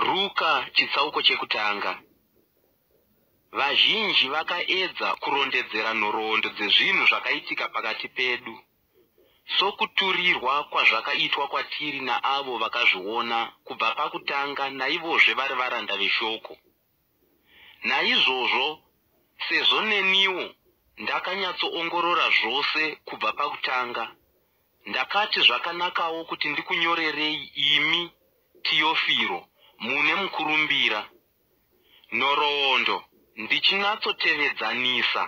Ruka chitsauko chekutanga. Vazhinji vakaedza kurondedzera nhoroondo dzezvinhu zvakaitika pakati pedu, sokuturirwa kwazvakaitwa kwatiri naavo vakazviona kubva pakutanga naivozve vari varanda veShoko. Naizvozvo, sezvo neniwo ndakanyatsoongorora zvose kubva pakutanga, ndakati zvakanakawo kuti ndikunyorerei imi, Tiofiro, mune mukurumbira, nhoroondo, ndichinatsotevedza-nisa,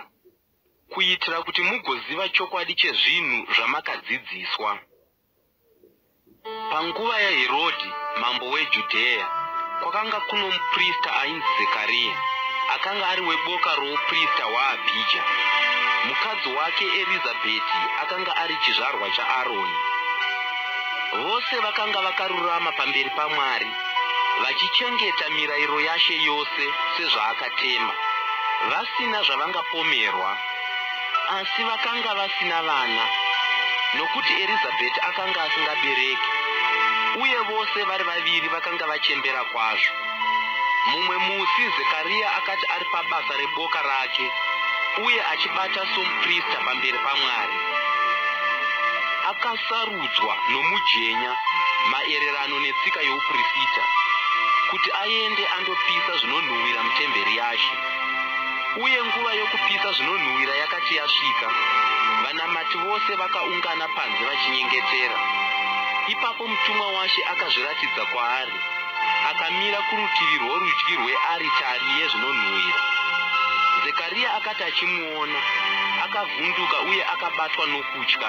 kuitira kuti mugoziva chokwadi chezvinhu zvamakadzidziswa. Panguva yaHerodhi mambo weJudheya, kwakanga kuno muprista ainzi Zekariya, akanga ari weboka rouprista hwaAbhija. Mukadzi wake Erizabheti akanga ari chizvarwa chaAroni. Vose vakanga vakarurama pamberi paMwari, vachichengeta mirairo yaShe yose sezvaakatema, vasina zvavangapomerwa. Asi vakanga vasina vana, nokuti Erizabheti akanga asingabereki, uye vose vari vaviri vakanga vachembera kwazvo. Mumwe musi Zekaria akati ari pabasa reboka rake uye achibata somuprista pamberi paMwari, akasarudzwa nomujenya maererano netsika youprisita kuti aende andopisa zvinonhuhwira mutemberi yaShe. Uye nguva yokupisa zvinonhuwira yakati yasvika, vanamati vose vakaungana panze vachinyengetera. Ipapo mutumwa waShe akazviratidza kwaari, akamira kurutivi rworudyi rwearitari yezvinonhuwira. Zekaria akati achimuona, akavhunduka uye akabatwa nokutya.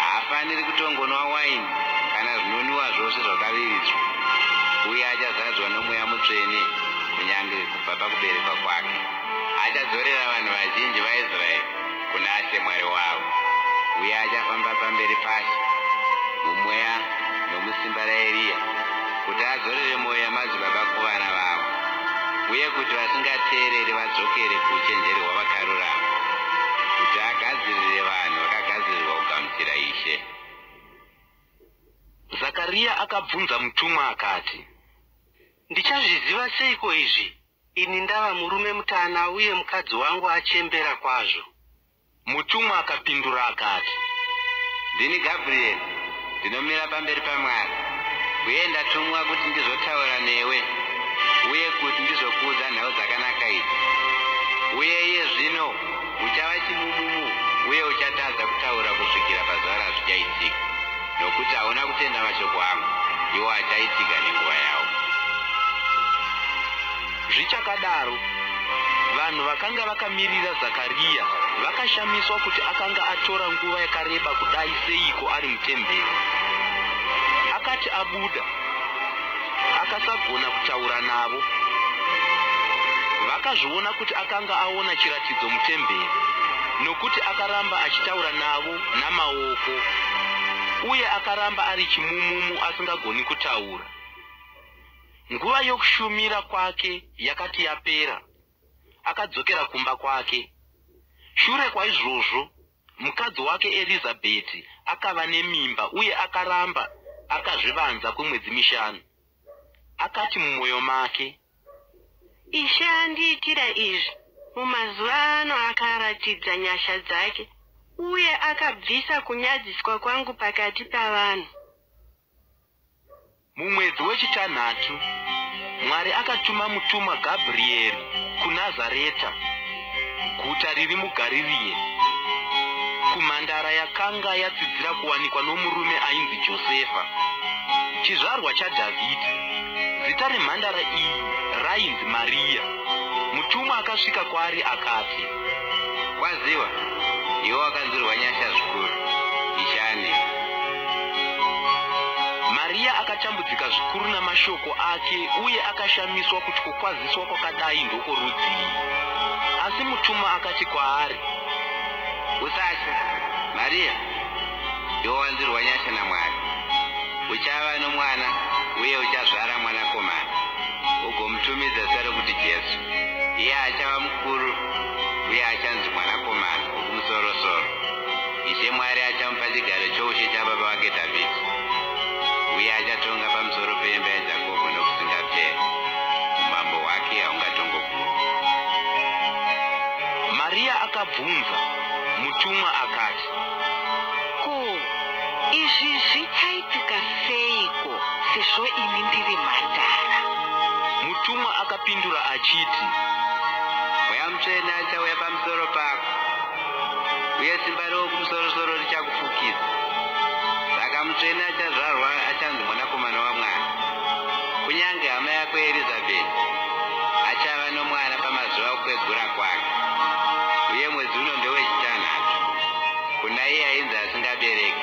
Haafaniri kutongonwa waini kana zvinonwiwa zvose zvakaviridzwa, uye achazadzwa noMweya Mutsvene kunyange kubva pakuberekwa kwake. Achadzorera vanhu vazhinji vaIsraeri kuna She Mwari wavo, uye achafamba pamberi paShe muMweya nomusimba raEriya. kuti adzorere mwoyo yamadzibaba kuvana vavo uye kuti vasingateereri vadzokere kuuchenjeri hwavakarurama kuti agadzirire vanhu vakagadzirirwa kugamuchira ishe zakariya akabvunza mutumwa akati ndichazviziva seiko izvi ini ndava murume mutana uye mukadzi wangu achembera kwazvo Mutumwa akapindura akati, Ndini Gabrieri, ndinomira pamberi paMwari, uye ndatumwa kuti ndizotaura newe uye kuti ndizokuudza nhau dzakanaka idzi. Uye iye zvino uchava chimudumu uye uchatadza kutaura kusvikira pazuva razvichaitika, nokuti hauna kutenda mashoko angu, iwo achaitika nenguva yawo. Zvichakadaro, vanhu vakanga vakamirira Zakariya vakashamiswa kuti akanga atora nguva yakareba kudai seiko ari mutemberi. Akati abuda, akasagona kutaura navo. Vakazviona kuti akanga aona chiratidzo mutemberi nokuti akaramba achitaura navo namaoko uye akaramba ari chimumumu asingagoni kutaura. Nguva yokushumira kwake yakati yapera, akadzokera kumba kwake. Shure kwaizvozvo, mukadzi wake Erizabheti akava nemimba uye akaramba akazvivanza kwemwedzi mishanu. Akati mumwoyo make, Ishe andiitira izvi mumazuva ano akaratidza nyasha dzake uye akabvisa kunyadziswa kwangu pakati pavanhu. Mumwedzi wechitanhatu, Mwari akatuma mutumwa Gabrieri kuNazareta, guta riri muGaririe, kumhandara yakanga yatsidzira kuwanikwa nomurume ainzi Josefa, chizvarwa chaDhavhidhi. Zita remhandara iyi rainzi Mariya. Mutumwa akasvika kwaari akati, kwaziwa iwe wakanzwirwa nyasha zvikuru ishani mariya akatambudzika zvikuru namashoko ake uye akashamiswa kuti kukwaziswa kwakadai ndokworudzii asi mutuma akati kwaari usatya mariya iwe wanzwirwa nyasha namwari uchava nomwana uye uchazvara mwanakomana ugomutumidza zita rekuti jesu iye achava Mukuru, uye achanzi Mwanakomana Wokumusorosoro. Ishe Mwari achamupa chigaro choushe chababa wake Dhavhidhi, uye achatonga pamusoro peimba yaJakobho nokusingaperi. Umambo hwake haungatongogumi. Mariya akabvunza mutumwa akati. Ko, izvi zvichaitika seiko? sezvo ini ndiri mhandara. Mutumwa akapindura achiti, Mweya Mutsvene achauya pamusoro pako, uye simba reWokumusoro-soro richakufukidza. Saka mutsvene achazvarwa achanzi Mwanakomana waMwari. Kunyange hama yako Erizabheti achava nomwana pamazuva okukwegura kwake, uye mwedzi uno ndewechitanhatu kuna iye ainzi asingabereki.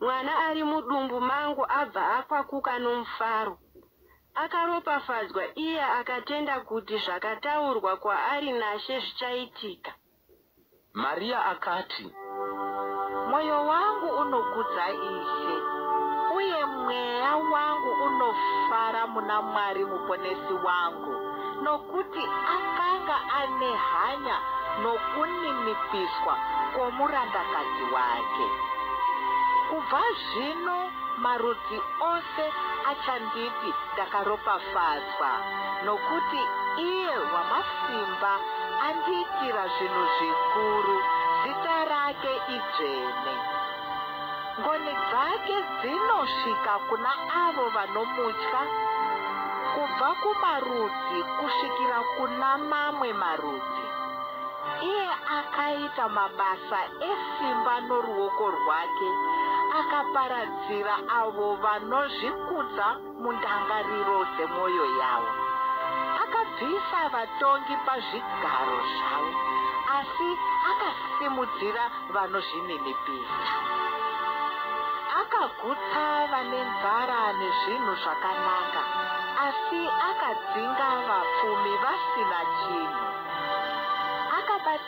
Mwana ari mudumbu mangu abva akwakuka nomufaro. Akaropafadzwa iye akatenda kuti zvakataurwa kwaari naShe zvichaitika. Mariya akati. Mwoyo wangu unokudza Ishe, uye mweya wangu unofara muna Mwari Muponesi wangu. nokuti akanga ane hanya nokuninipiswa kwomurandakadzi wake. Kubva zvino marudzi ose achanditi ndakaropafadzwa, nokuti iye Wamasimba andiitira zvinhu zvikuru, zita rake idzvene. Ngoni dzake dzinosvika kuna avo vanomutya, kubva kumarudzi kusvikira kuna mamwe marudzi. Iye akaita mabasa esimba noruoko rwake, akaparadzira avo vanozvikudza. Mundangariro dzemwoyo yawo akabvisa vatongi pazvigaro zvavo, asi akasimudzira vanozvininipisa. Akagutsa vane nzara nezvinhu zvakanaka, asi akadzinga vapfumi vasina chinhu. Akabata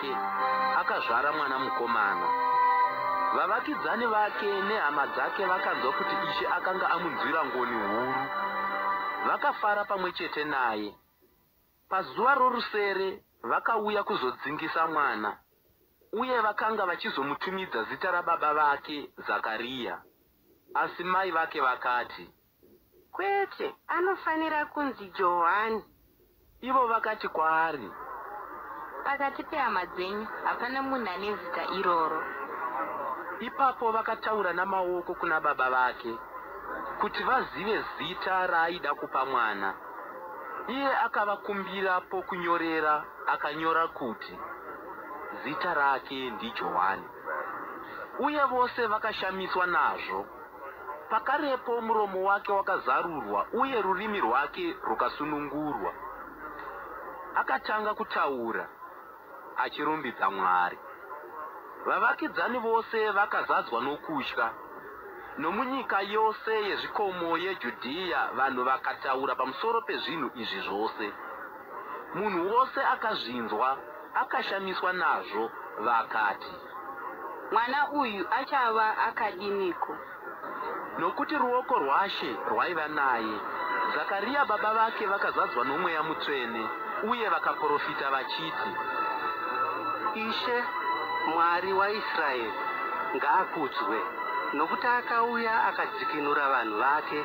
wake akazvara mwana mukomana. Vavakidzani vake nehama dzake vakanzwa kuti Ishe akanga amunzwira ngoni huru. Vakafara pamwe chete naye. Pazuva rorusere vakauya kuzodzingisa mwana uye vakanga vachizomutumidza zita rababa vake Zakariya. Asi mai vake vakati, Kwete, anofanira kunzi Johani. Ivo vakati kwaari. Pakati pehama dzenyu hapana munhu ane zita iroro. Ipapo vakataura namaoko kuna baba vake kuti vazive zita raaida kupa mwana. Iye akavakumbira pokunyorera akanyora kuti, Zita rake ndiJohani. Uye vose vakashamiswa nazvo. Pakarepo muromo wake wakazarurwa uye rurimi rwake rukasunungurwa. Akatanga kutaura achirumbidza Mwari. Vavakidzani vose vakazadzwa nokutya. Nomunyika yose yezvikomo yeJudhiya vanhu vakataura pamusoro pezvinhu izvi zvose. Munhu wose akazvinzwa akashamiswa nazvo vakati. Mwana uyu achava akadiniko? Nokuti ruoko rwaShe rwaiva naye. Zakariya baba vake vakazadzwa nomweya mutsvene uye vakaprofita vachiti. Ishe, Mwari waIsraeri, ngaakudzwe, nokuti akauya akadzikinura vanhu vake,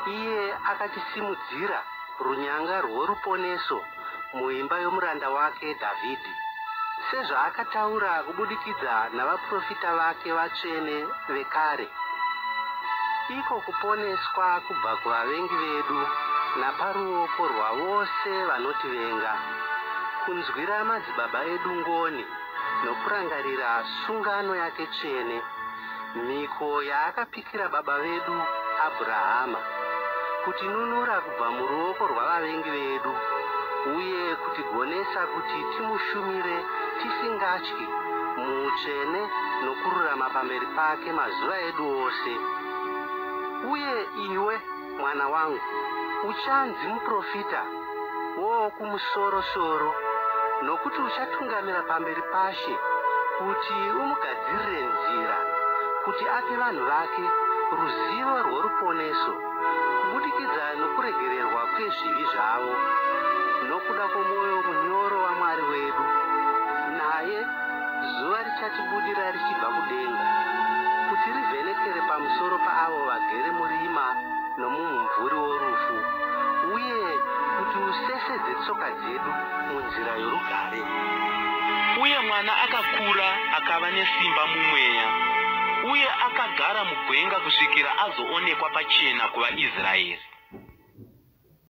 iye akatisimudzira runyanga rworuponeso muimba yomuranda wake Dhavhidhi, sezvaakataura kubudikidza navaprofita vake vatsvene vekare. Iko kuponeswa kubva kuvavengi vedu naparuoko rwavose vanotivenga, kunzwira madzibaba edu ngoni nokurangarira sungano yake tsvene, Mhiko yaakapikira baba vedu Abhurahama, kutinunura kubva muruoko rwavavengi vedu uye kutigonesa kuti timushumire tisingatyi muutsvene nokururama pamberi pake mazuva edu ose. Uye iwe? Mwana wangu, uchanzi muprofita woWokumusoro soro, nokuti uchatungamira pamberi paShe kuti umugadzirire nzira, kuti ape vanhu vake ruzivo rworuponeso kubudikidza nokuregererwa kwezvivi zvavo, nokuda kwomwoyo munyoro waMwari wedu, naye zuva Richatibudira richibva kudenga, kuti rivhenekere pamusoro paavo vagere murima nomumumvuri worufu, uye kuti usesedze tsoka dzedu munzira yorugare. Uye mwana akakura akava nesimba mumweya, uye akagara mugwenga kusvikira azoonekwa pachena kuvaIsraeri.